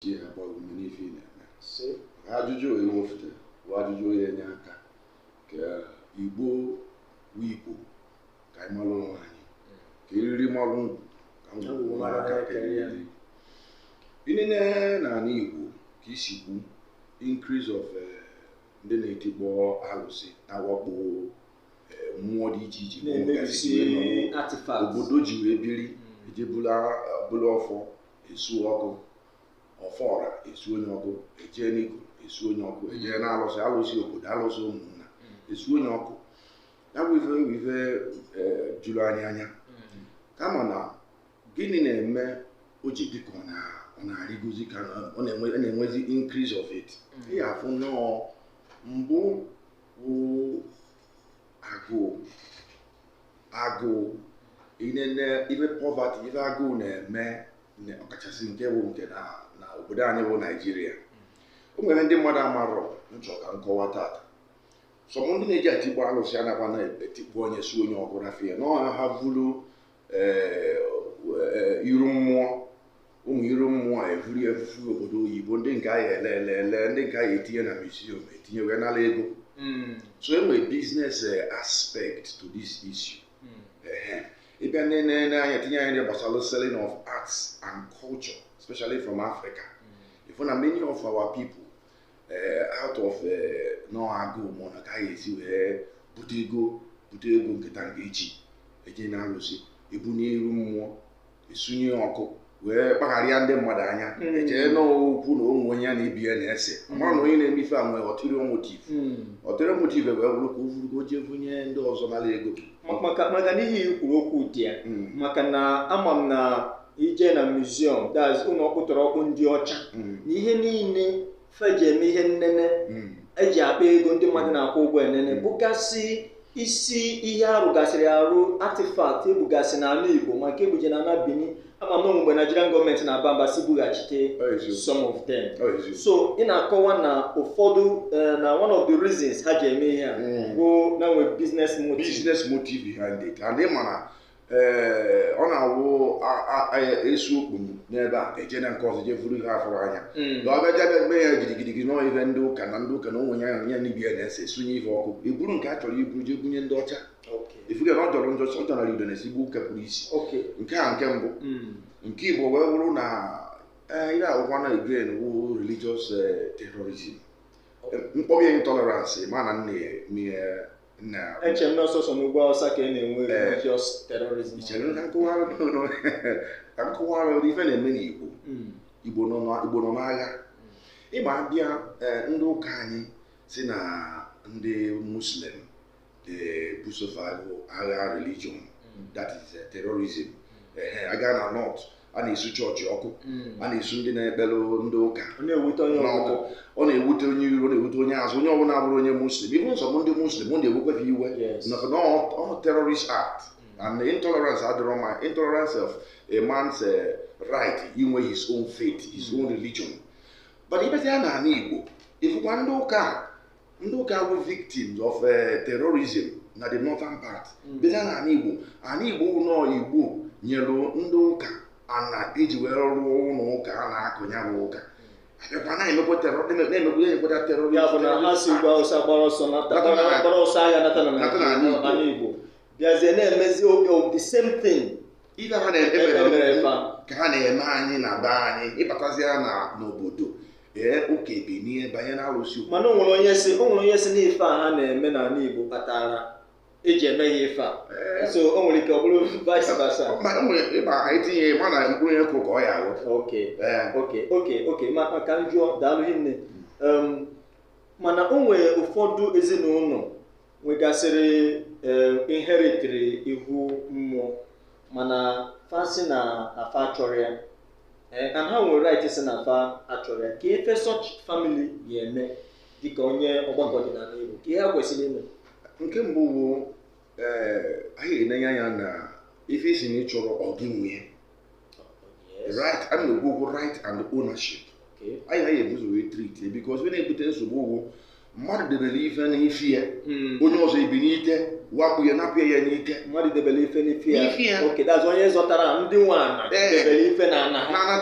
ji agba ume n'ife ị na-eme ka ajụjụ onye wefute bụ ajụjụ ya-enye aka ka igbo bụ igbo ka anyị mara onwe anyị ka eriri mara ngwugwu ka ngwugwu mara aka kere ya ị nene n'ala igbo ka i si kwu increase of eh, ndị na-etikpọ alụsị na-awakpo eh, mmụọ dị iche iche na-emebisi artifact obodo ji wee biri ejee bulu ọfọ esu ọkụ ọfọ ọra esunye ọkụ ejee n'iko esunye ọkụ ejee n'alụsị alụsị obodo alụsị ụmụnna esunye ọkụ ya bụ ife bụ ife eh, juru anyị anya kama na gịnị na-eme o ji dị ka ọ na- ọ na-arịgozi ka na- ọ na-enwe- ọ na-enwezi increase of it ị ya-afụ nnọọ mbụ bụ agụụ agụụ ị nene ife poverty ife agụụ na-eme ne- ọkachasị nke bụ nke na na obodo anyị bụ naijiria o nwere ndị mmadụ amarọ m chọ ka m kọwaa tata some ndị na-eje etikpo alụsị anakwa na-etikpo na-esunye ọkụ rafia na ọha ha vulu ee, ee, iru mmụọ ụmụ iru mmụọ evuru evufu obodo oyibo ndị nke a ya-ele ele ele ndị nke a ya-etinye na museum etinye wee nara ego hmm. so e nwere business eh, aspect to this issue hmm. ị bịa nenye anya tinye anya gbasara selling of arts and culture especially from africa hmm. ị fụ na many of our people eh, out of eh, na agụụ mụ na ka a ya-esi wee bute ego bute ego nke ta nke echi ejee n'alụsị ebunie iru mmụọ esunye ọkụ wee kpagharịa ndị mmadụ anya hmm. echee na okwu na ụmụ onye ya na ibe ya na-ese hmm. amarọ na onye na-eme ife a nwee ulterior motive ulterior motive wee bụrụ ka o vuru gaa jee bunye ndị ọzọ nara ego maka na ihe i kwuru okwu dị ya hmm. maka na ama m na i jee na museum that's ụlọ ọkpụtọrọkpụ ndị ọcha na ihe niile fa ji eme ihe nnene hmm. eji akpa ego ndị mmadụ na-akwụ ụgwọ enene hmm. bụgasị isi ihe arụgasịrị arụ artifact ebugasị n'ala Igbo ma nke ebuje na ala Benin ama m mgbe Nigerian government na-aba mba sị bughachite some of them so ị na-akọwa na ụfọdụ eh, na one of the reasons ha ji eme ihe a hmm. bụ na e nwe business motive business motive behind it and ị ma na ee ọ na-awụ esu ọkụ n'ebe a ejee na nke ọzọ jee vuru ihe afụrụ anya hmm. na ọ bịaja bịa mee ya gidigidigi n'ọ ihe ndị ụka na ndị ụka na onwe ya ya na ibe ya na-ese sunye ihe ọkụ eburu nke a chọrọ iburu jee bunye ndị ọcha ị fụgo na ọ jọrọ njọ ọ jọnara udene sigbuo nkapị n'isi nke a nke mbụ hmm. nke ịbọọ wee bụrụ na eh, ihe akwụkwọ na again wụ religious eh, terrorism mkpọbi intolerance ma na nne eche m na ọ sọsọ n'ugwu awụsa ka ị na-enwe religious terrorism ka m kọwara gị ife na-eme n'igbo hmm. igbo nọ n'agha hmm. ị ma a bịa eh, ndị ụka anyị si na ndị muslim na-ebuso fa agha religion hmm. that is eh, terrorism eh, a gaa na north a na-esu chọọchị ọkụ hmm. a na-esu ndị na-ekpere ndị ụka ọ na-ewute onye iru na-ewute onye azụ onye ọbụla abụrọ onye muslim even some bụ ndị muslim ọ na-ewekwe fa iwe maka na ọ terrorist act hmm. and intolerance adịrọ mma intolerance of a man's eh, right inwe his own faith his hmm. own religion but ị bịazie na ala igbo ị fụkwa ndị ụka ndị ụka bụ victims of eh, terrorism na the northern part mm. bịa na ala igbo ala igbo nọ igbo nyere ndị ụka ana e ji wee rụọ ụlọ ụka a na-akụ ya bụ ụka abịakwa na-emekwa na-emekwa terrorist bịazie na-emezi the same thing ife ha na-emere ka ha na-eme anyị na be anyị ị batazia na n'obodo ee ụka ebinie banye na arụsị mana o nwere onye si o nwere onye si n'ife a ha na-eme n'ala Igbo kpatara e ji eme ya ife a so o nwere ike ọ bụrụ vice versa ma o nwere ịba anyị tinye ma na mkpụrụ onye kụrụ ka ọ ya-aghọ okay okay okay okay ma ka m jụọ daalụ hinne mana o nwere ụfọdụ ezinụlọ nwegasịrị eh, inheritiri ihu mmụọ mana fa sị na fa achọrọ ya eh, and ha nwere right sị na fa achọrọ ya kee ife such family ga-eme dịka onye ọgbakọ ọdịnala Igbo kee ihe ha kwesịrị ime nke mbụ bụ ee anyị ga-enenye anya na ife ị sị na ị chọrọ ọ gị nwe ya oh, right a na-ekwu okwu right and ownership anyị na-ebu ụzọ wee treat because ọ ya na-ebute nsogbu okwu mmadụ debere ife n'ife ya hmm. onye ọzọ ebinite wakpo ya napụ ya n'ike mmadụ debere ife n'ife ya onye zọtara ndị nwe ana debere ife na ana ha